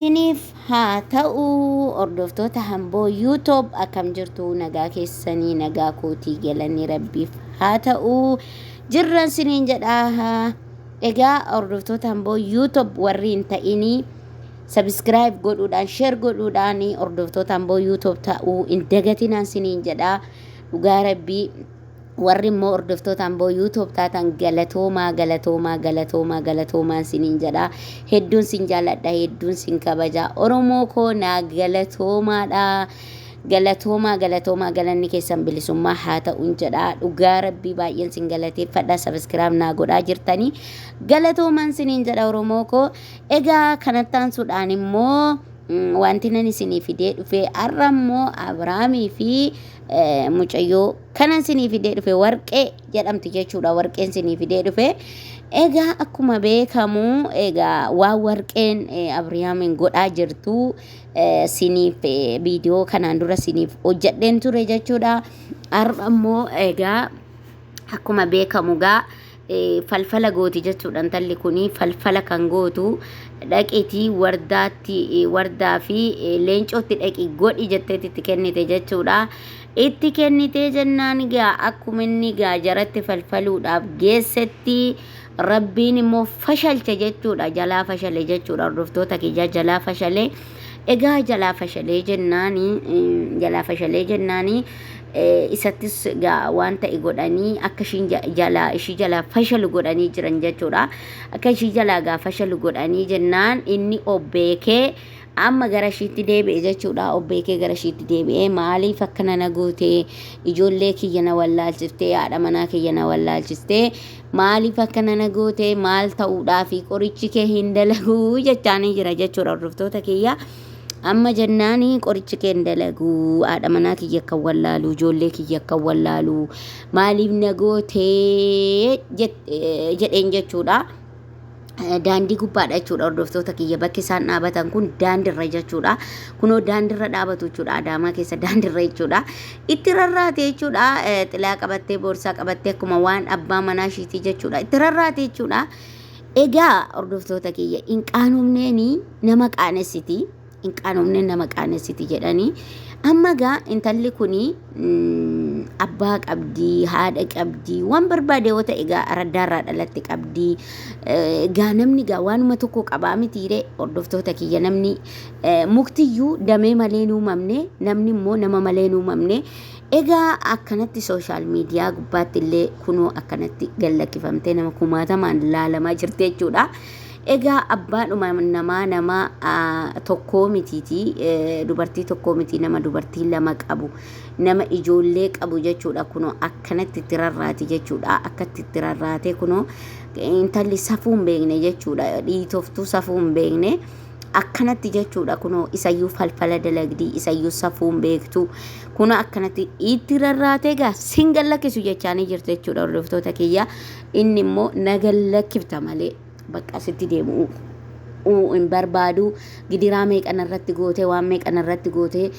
Isiniif haa ta'u hordoftoota hamboo yuutoob akkam jirtu nagaa keessanii nagaa kootii galanii rabbiif haa ta'u jirran siniin jedhaa egaa hordoftoota hamboo yuutoob warri hin ta'inii sabiskiraayib godhuudhaan sheer godhuudhaan hordoftoota hamboo yuutoob ta'uu hin dagatinaan siniin jedhaa dhugaa rabbii Warri immoo hordoftoota Amboo YouTube taatan galatoomaa galatoomaa galatoomaa galatoomaan siniin jedha. Hedduun sin jaalladha hedduun sin kabaja. Oromoo koo naa galatoomaadha. Galatoomaa galatoomaa galanni keessan bilisummaa haa ta'uun jedha. Dhugaa rabbii baay'een sin galateeffadha. Sabiskiraab naa godhaa jirtanii. Galatoomaan siniin jedha Oromoo koo. Egaa kanatti aansuudhaan immoo mm, wanti nan isinii fidee dhufee har'a immoo Abiraamii fi eh, mucayyoo Kanan sinii fidee dhufe warqee jedhamti jechuudha. Warqeen sinii fidee dhufe. Egaa akkuma beekamu egaa waan warqeen Abrihaamiin godhaa jirtu siniif viidiyoo kanaan dura siniif hojjedheen ture jechuudha. Har'a immoo egaa akkuma beekamu egaa falfala gooti jechuudha intalli kun falfala kan gootu dhaqitii wardaatti wardaa fi leencootti dhaqi godhi jetteetti itti kennite jechuudha. Itti kennitee jennaan gaa akkuma inni gaa jaratti falfaluudhaaf geessetti rabbiin immoo fashalche jechuudha jalaa fashale jechuudha hordoftoota kiyyaa jalaa fashale Egaa jalaa fashalee jennaani jalaa fashalee jennaani isattis egaa waan ta'e godhanii akka ishiin jalaa ishii jalaa fashalu godhanii jiran jechuudha. Akka ishii jalaa egaa fashalu godhanii jennaan inni obbeekee amma gara ishiitti deebi'e jechuudha. Obbeekee gara ishiitti deebi'ee maaliif akkana na gootee ijoollee kiyya na wallaalchiftee haadha manaa kiyya na wallaalchistee maaliif akkana na goote maal ta'uudhaafi qorichi kee hin dalaguu jechaanii jira jechuudha hordoftoota kiyya amma jennaani qorichi kee hin dalaguu haadha manaa kiyya akka wallaalu ijoollee kiyya akka wallaalu maaliif na goote jedheen jechuudha. daandii gubbaadha jechuudha hordoftoota kiyya bakki isaan dhaabatan kun daandirra jechuudha kunoo daandirra dhaabatu jechuudha adaamaa keessa daandirra jechuudha itti rarraate jechuudha xilaa qabattee boorsaa qabattee akkuma waan abbaa manaa ishiitii jechuudha itti rarraate jechuudha egaa hordoftoota kiyya hin qaanofneeni nama qaanessiti hin qaanofne nama qaanessiti jedhanii amma gaa intalli kun abbaa qabdii haadha qabdii waan barbaade yoo ta'e gaa araddaarraa dhalatte qabdii gaa namni gaa waanuma tokko qabaa mitiire hordoftoota kiyya namni muktiyyuu damee malee hin uumamne namni immoo nama malee hin uumamne egaa akkanatti sooshaal miidiyaa gubbaatti illee kunoo akkanatti gallakkifamtee nama kumaatamaan laalamaa jirti jechuudha. Egaa abbaadhuma namaa nama tokkoo mitiitii dubartii tokkoo mitii nama dubartii lama qabu nama ijoollee qabu jechuudha kunoo akkanatti itti rarraati jechuudha akkatti itti rarraatee kunoo intalli safuu hin beekne jechuudha dhiitoftuu safuu hin beekne akkanatti jechuudha kunoo isayyuu falfala dalagdii isayyuu safuu hin beektu kunoo akkanatti itti rarraatee gaa sin gallakkisu jechaanii jirti jechuudha hordoftoota kiyya Inni immoo na gallakkifta malee bakka sitti deemu hin barbaadu. Gidiraa meeqa narratti gootee waan meeqa narratti gootee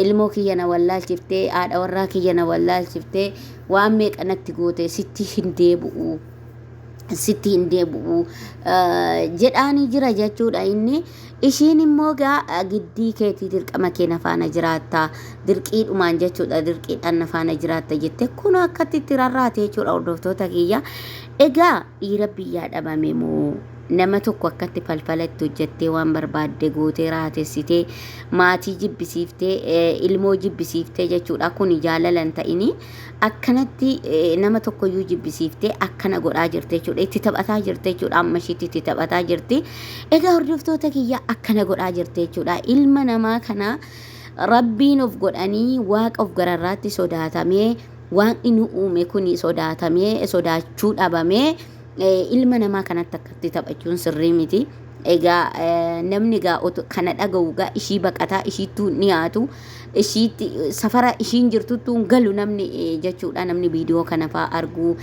ilmoo kiyya na wallaalchiftee haadha warraa kiyya na wallaalchiftee waan meeqa natti gootee sitti hin deebi'u. sitti hin deebi'u jedhaanii jira jechuudha inni Ishiin immoo egaa giddii keetii dirqama kee na faana jiraatta dirqiidhumaan jechuudha dirqiidhaan na faana jiraatta jette kun akkatti itti rarraate jechuudha hordoftoota kiyya egaa dhiira biyyaa dhabame moo nama tokko akkatti falfala itti hojjettee waan barbaadde gootee raatessitee maatii jibbisiiftee eh, ilmoo jibbisiiftee jechuudha kun jaalalan ta'inii Akkanatti nama tokkoyyuu jibbisiiftee akkana godhaa jirti jechuudha. Itti taphataa jirti jechuudha. Amma ishiitti itti taphataa jirti. Egaa hordoftoota kiyya akkana godhaa jirti jechuudha. Ilma namaa kana rabbiin of godhanii waaqa of gararraatti sodaatamee waaqni nu uume kun sodaatamee sodaachuu dhabamee ilma namaa kanatti akkatti taphachuun sirrii miti. Egaa namni gaa kana dhaga'u gaa ishii baqataa ishiittuu ni haatu ishiitti safara ishiin jirtuttuu hin galu namni jechuudha namni viidiyoo kana faa argu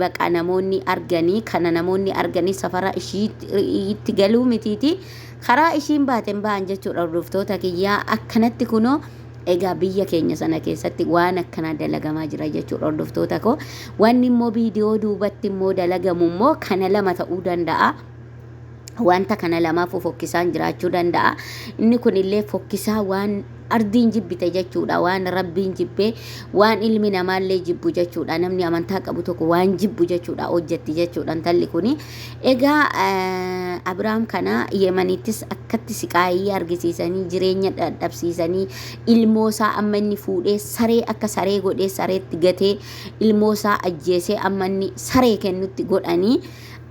baqa namoonni arganii kana namoonni arganii safara ishiitti galuu mitiiti karaa ishiin baateen ba'an jechuudha hordoftoota kiyyaa akkanatti kunoo Egaa biyya keenya sana keessatti waan akkanaa dalagamaa jira jechuudha hordoftoota koo. Wanni immoo viidiyoo duubatti immoo dalagamu immoo kana lama ta'uu danda'a. Wanta kana lamaaf fokkisaan jiraachuu danda'a. Inni kunillee fokkisaa waan ardiin jibbite jechuudha. Waan rabbiin jibbee waan ilmi namaallee jibbu jechuudha. Namni amantaa qabu tokko waan jibbu jechuudha hojjetti jechuudha intalli kuni. Egaa Abiraam kana Yemanittis akkatti siqaayii argisiisanii jireenya dadhabsiisanii ilmoosaa amma inni fuudhee saree akka saree godhee sareetti gatee ilmoosaa ajjeesee amma inni saree kennutti godhanii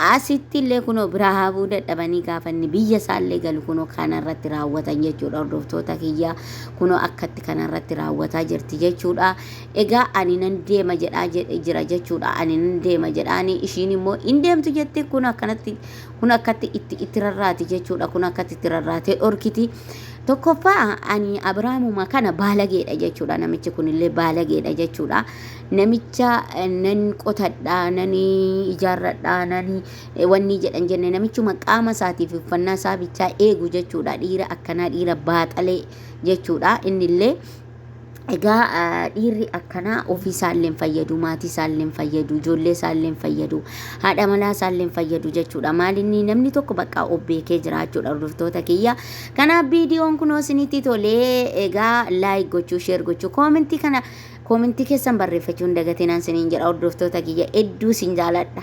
asitti illee kunoo biraa hafuu dadhabanii gaafa inni biyya isaa illee galu kunoo kana irratti raawwatan jechuudha hordoftoota kiyyaa kunoo akkatti kana irratti raawwataa jirti jechuudha. Egaa ani nan deema jedhaa jedhe jira jechuudha. Ani nan deema jedhaani ishiin immoo hin deemtu jette kun akkanatti kun akkatti itti itti rarraati jechuudha. Kun akkatti itti rarraatee dhorkiti. Tokkoffaa ani Abiraamuma kana baalageedha jechuudha. Namichi kunillee baalageedha jechuudha. Namicha eh, nan qotadha, nan ijaarradha, nan eh, wanni jedhan jenne namichuma qaama isaatiif uffannaa isaa bichaa eegu jechuudha. Dhiira akkanaa dhiira baaxalee jechuudha. Innillee Egaa dhiirri akkanaa ofii isaallee hin fayyadu, maatii isaallee hin fayyadu, ijoollee isaallee hin fayyadu, haadha manaa isaallee hin fayyadu jechuudha. Maal inni namni tokko bakka of beekee jira jechuudha hordoftoota kiyya. Kanaaf viidiyoon kunoo isinitti tolee egaa laayik gochuu, sheer gochuu, koomentii kana koomentii keessan barreeffachuu hin dagatinaan isiniin jedha hordoftoota kiyya hedduu isin jaaladha.